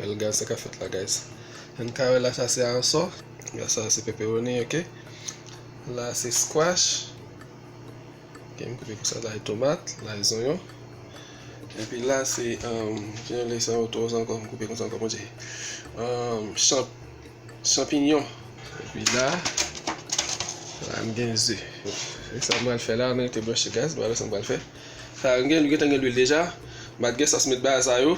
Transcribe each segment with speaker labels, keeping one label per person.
Speaker 1: Well guys sa ka fèt la guys. Ann ka wè la sa se aransò. Ya sa se pepperoni ok. La se squash. Ok m koupe pou sa la e tomat, la e zonyon. Epi la se um, jan yo le sa yo to ankò m koupe konsa ankò bon Dieu. Um, champ, champignon. Epi la, la m gen ze. E sa m pral fè la, m rete branche guys, m pral wè sa m pral fè. Sa m gen, m gentan gen lwil deja. M pat gen sòs met bay sa yo.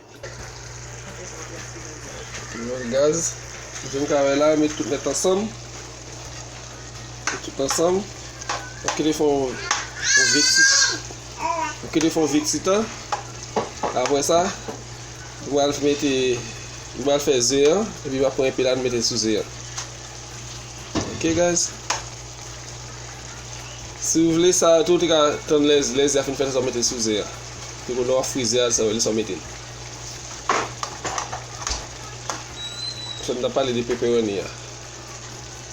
Speaker 1: Mwen gaz. Jen kare la, met tout net ansanm. Met tout ansanm. Ou kile fon ou veksit. Ou kile fon veksit an. Apre sa, ou al mette, ou al fè ze an, epi ou al pran epi la nou mette sou ze an. Ok guys. Si ou vle sa, tout ou te ka tann lè ze a fin fè sa ou mette sou ze an. Epi kounye a wap frize a sa yo lesa w mete l. Sa m tap pale de peperoni a.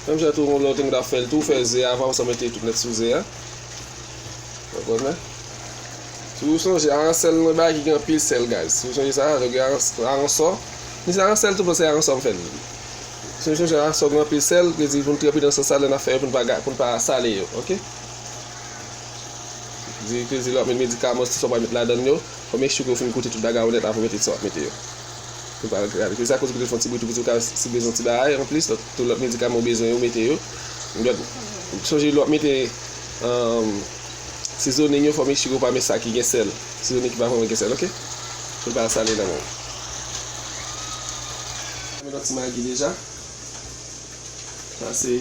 Speaker 1: Menm jan tou lè w te gen pou w ta fè l tou, fè ze a avan ou sa mete tout nèt sou ze a. Ou konnen? Si w sonje aransè l nan bagay ki gen anpil sèl guys. Si w sonje sa, lè w gen aransò, ni se aransè l tou men se aransò m fè l. Si w sonje aransò gen anpil sèl, vle di pou n trèpi nan sans sa lè n ap fè yo pou n pa sale yo, ok? Di peze lè wap met medikaman ti sa w pral met ladann yo fò make sure ke ou fin koute tout bagay yo nèt avan w mete ti sa wap mete yo pou l pa gate peze akoz ou pito fon ti bri tou pito ka si bezwen ti bagay anplis tout lòt medikaman ou bezwen yo mete yo sonje lè wap mete sizonin yo fò make sure ou pa met sa ki gen sèl sizonin ki pa vrèman gen sèl ok pou l pa sale nan men w mwen met yon ti magi deja sa se.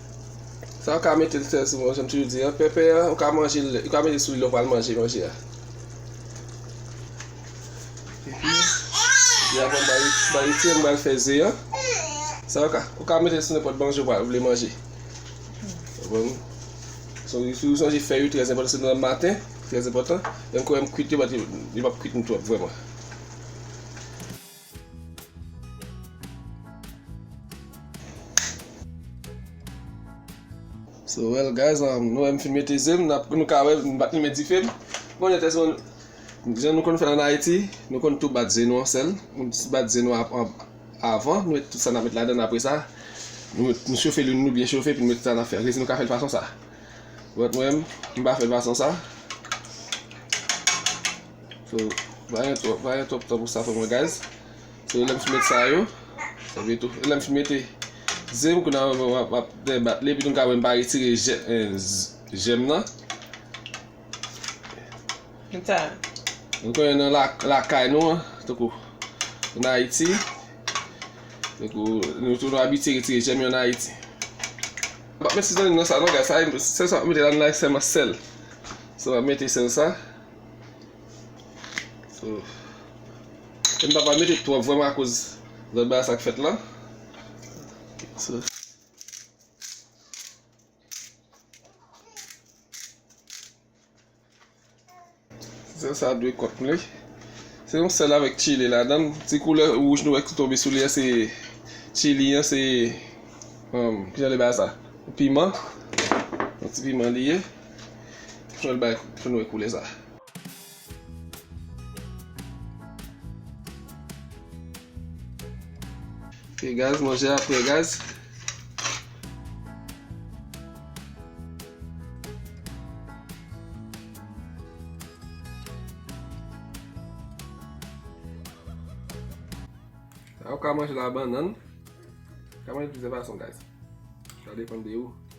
Speaker 1: Sa ou ka metel sèl sou bon janm toujou di an pèpè an ou ka manjel ou ka metel sou li lè ou pral manje manje a. Epi ya bon bari bari ti an bal fè ze an. Sa ou ka ou ka metel sou nenpòt manje ou pral vle manje. Bon. So si ou sonje fè yo trè enpòtan se nan maten, trè enpòtan. Lèm kouwèm kwit yo bat yo pap kwit nou twòp vrèman. So well guys, um, nou wè m fin mete ze m, nap- nou ka wè m bat limen dife m. Bon, lè tès moun, jan nou konn fè an Ayiti, nou konn tou bat ze nou an sèl. Nou ti bat ze nou ap- an- avan, nou met tout sa n ap met ladan, apre sa, nou met- nou chofe lin nou byen chofe, epi nou met sa n ap fè an. Resi nou ka fè l fason sa. Bòt mwen, m pa fè l fason sa. So pa gen twòp pa gen twòp tan pou sa frè mwen guys So lèm fin met sa yo Ebyen tou lèm fin mete Ze m kounya map debat li epi nou ka wè m pa retire jèm nan
Speaker 2: Konsa Nou konnen
Speaker 1: nan lakay nou an tankou An Ayiti Tankou nou tou nou abitye retire jèm yo an Ayiti Mwen pap met sezonnin nan sa non guys Sèl sa map mete la nan la e sèlman sèl So map mete sèl sa. So, e m pa pa mete twòp vwèman akoz lòt bagay sa k fèt lan. So. Sèl sa dwe kòt mle. Se yon sèl avèk chili ladan. Ti koulè wouj nou wè ki tonbe sou li an se chili an se um, ki jan le ba sa? Piman. Yon ti piman li ye. Fè l bay fè l wè koulè sa. Ok gaz manje a pre gaz. Ou ka manje la bannan. Ou ka manje plizyè fason gaz. Sa depan de ou.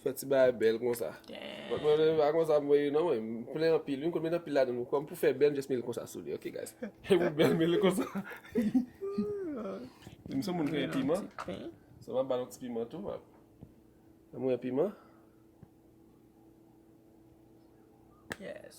Speaker 1: Fè ti bagay bèl konsa. But mwen menm pa konsa mwen ye non mwen. M plen anpil wi m konn met anpil ladann wi. Kòm pou fè bèl m just met l konsa sou li ok guys. Fè pou bèl met l konsa. M son moun ki renmen piman. So m ap ba l yon ti piman tou. Mwen renmen piman.
Speaker 2: Yes.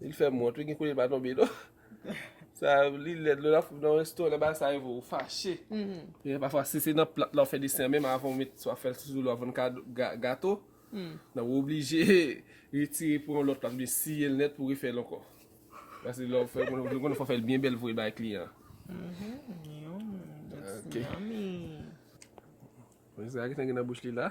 Speaker 1: Li fèm wont wi gen kote li pa tonbe non. Sa li lèd lè lap nan resto lè bagay sa rive ou fache. Gen pafwa si se nan plat la ou fè desen an menm avan ou met swa fèl sou lwa vann kado gato. Nan ou oblije retire pou yon lòt plas oubyen siyel nèt pou refèl ankò. Pase lè ou fè konn ou konn fò fèl byen bèl voye bay kliyan an. Yummy. Sa gentan gen nan bouch li la.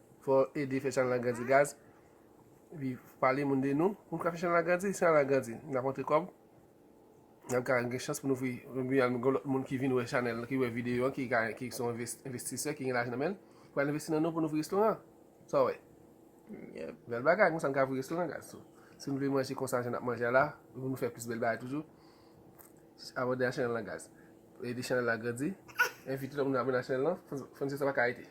Speaker 1: Fò ede fè chanèl la grandi gaz epi pale moun de nou pou nou ka fè chanèl la grandi, chanèl la grandi nap antre kòb nap ka gen chans pou nou ouvri epi al gen lòt moun ki vin wè chanèl ki wè videyo an ki son envestisè ki gen lajan nan menl pou al envesti nan nou pou nou ouvri restoran sa w wè bèl bagay konsa nou ka ouvri restoran gaz tou si nou vle manje konsa jan nap manje a la pou nou fè plis bèl bagay toujou abòne a chanèl la gaz ede chanèl la grandi envite lòt moun abòne a chanèl la fònise sa pa ka rete.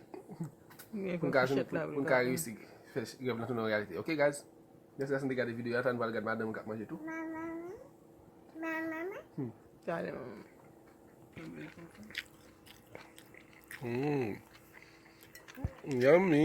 Speaker 1: pou n ka jwenn pou n ka resi fè rèv lan tounen reyalite ok guys mèsi dason de gade videyo a tan nou pral gad madanm kap manje tou yummy